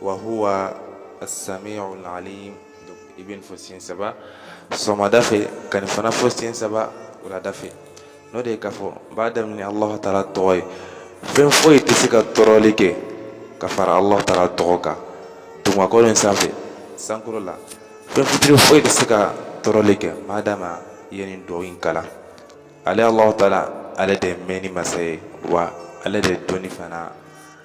wa huwa as-sami'ul alim i bɛ nin fɔ siɲɛ saba sɔgɔmada fɛ ka nin fana fɔ siɲɛ saba wulada fɛ n'o de ye k'a fɔ n b'a daminɛ Alahu taala tɔgɔ ye fɛn foyi tɛ se ka tɔɔrɔli kɛ ka fara Alahu taala tɔgɔ kan dugumakolo in sanfɛ sankolo la fɛn fitini foyi tɛ se ka tɔɔrɔli kɛ ma dama i ye nin dugawu in kalan ale Alahu taala ale de ye mɛnni masa ye wa ale de ye dɔnni fana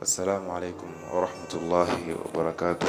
Assalamu alaikum warahmatullahi wabarakatuh.